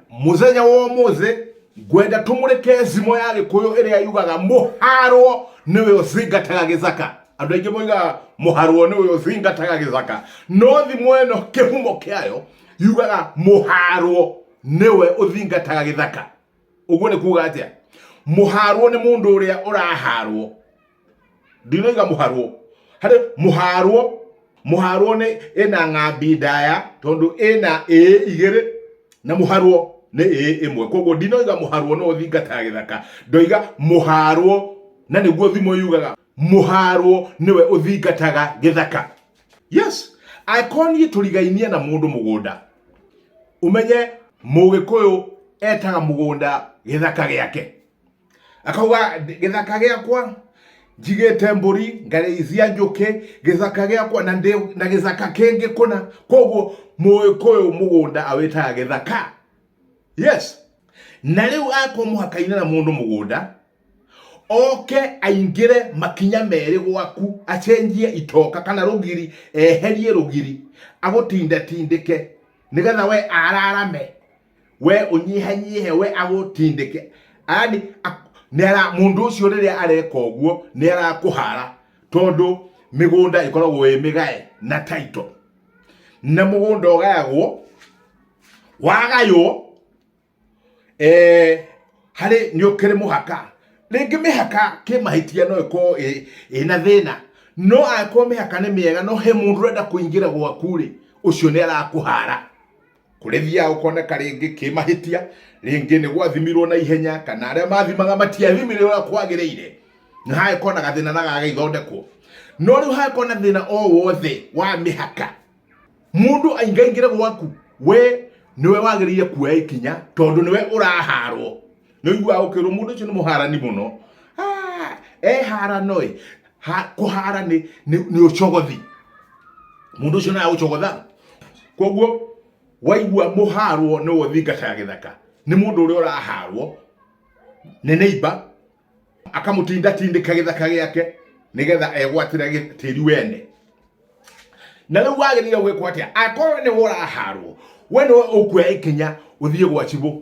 muthenya wa umuthi ngwenda tumurike thimo ya gikuyu iria yugaga muharwo niwe uthingataga githaka andu aingi moigaga muharwo niwe uthingataga githaka no thimo ino kihumo kiayo yugaga muharwo niwe uthingataga githaka uguo ni kuga atia muharwo ni mundu uria uraharwo ndinoiga mũharwo harĩ mũharwo mũharwo nĩ ĩna ng'ambi ndaya tondũ ĩna ĩ igĩrĩ na mũharwo nĩ ĩ ĩmwe koguo ndinoiga mũharwo no ũthingataga gĩthaka ndoiga mũharwo na nĩguo thimo yugaga mũharwo nĩwe ũthingataga gĩthaka yes angĩkorwo niĩ tũrigainie na mũndũ mũgũnda umenye mũgĩkũyũ etaga mũgũnda gĩthaka gĩake akauga gĩthaka gĩakwa njigĩte mbũri ngarĩithia njũkĩ gĩthaka gĩakwa na ndĩ na gĩthaka kĩngĩ kũna koguo mũgĩkũyũ mũgũnda awĩtaga gĩthaka yes na rĩu akorwo mũhaka-inĩ na mũndũ mũgũnda oke aingĩre makinya merĩ gwaku acenjie itoka kana rũgiri eherie rũgiri agũtindatindĩke nĩgetha we ararame we ũnyihanyihe we agũtindĩke yani ak- nĩara- mũndũ ũcio rĩrĩa areka ũguo nĩ arakũhara tondũ mĩgũnda ĩkoragwo ĩ mĩgae na taito na mũgũnda ũgayagwo wagaywo eh, harĩ nĩ ũkĩrĩ mũhaka rĩngĩ mĩhaka kĩmahĩtia no ĩkorwo ĩ- ĩna thĩna no angĩkorwo mĩhaka nĩ mĩega no he mũndũ ũrenda kũingĩra gwaku rĩ ũcio nĩ arakũhara kũremia ũkoneka rĩngĩ kĩmahĩtia rĩngĩ nĩ gwathimirwo na ihenya kana arĩa mathimaga matiathimirwo ũrĩa kwagĩrĩire na hagĩkorwo na gathĩna na gagĩthondekwo no rĩu hagĩkorwo na thĩna o wothe wa mĩhaka mũndũ aingaingĩre gwaku we nĩwe wagĩrĩire kuoya ikinya tondũ nĩwe ũraharwo Noigua ũkĩrwo mũndũ ũcio nĩ mũharani mũno. Ah, eharano ĩ, ha- kũhara nĩ nĩ- nĩ ũcogothi. Mũndũ ũcio naye ũcogotha. Koguo waigua mũharwo nĩ wothi ngata ya gĩthaka. Nĩ mũndũ ũrĩa ũraharwo nĩ neighbor akamũtinda tindĩka gĩthaka gĩake nĩgetha egwatĩre gĩ- tĩri wene na rĩu wagĩrĩire gwĩkwo atĩa akorwo nĩ ũraharwo we nĩwe ũkuoya ikinya ũthiĩ gwa cibũ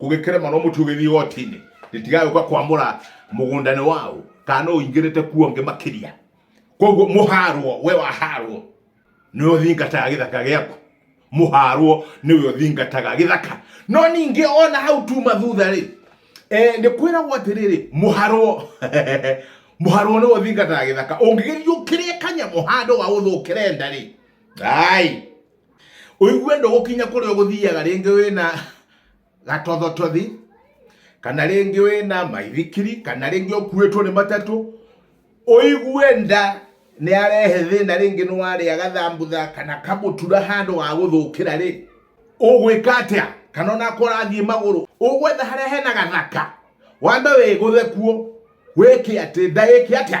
kũgĩkĩrema no mũtĩ ũgĩthiĩ igoti-inĩ rĩtigagĩũka kwamũra mũgũnda-inĩ wao kana no ũingĩrĩte kuo ngĩ makĩria koguo mũharwo we waharwo nĩwe ũthingataga gĩthaka gĩaku mũharwo nĩwe ũthingataga gĩthaka no ningĩ ona hau tuma thutha rĩ eh, nĩ kwĩragwo atĩrĩrĩ mũharwo mũharwo nĩwe ũthingataga gĩthaka ũngĩgĩthiĩ ũkĩrĩe kanyamũ handũ wa ũthũkĩre nda rĩ ai ũigue ndũgũkinya kũrĩa ũgũthiaga rĩngĩ wĩna gatothotothi kana rĩngĩ wĩna maithikiri kana rĩngĩ ũkuĩtwo nĩ matatũ ũigue nda nĩ arehe thĩna rĩngĩ nĩ warĩa gathambutha kana kamũtura handũ wa gũthũkĩra rĩ ũgwĩka atĩa kana onako ũrathiĩ magũrũ ũgwetha harĩa hena gathaka wambe wĩgũthe kuo wĩke atĩ nda ĩke atĩa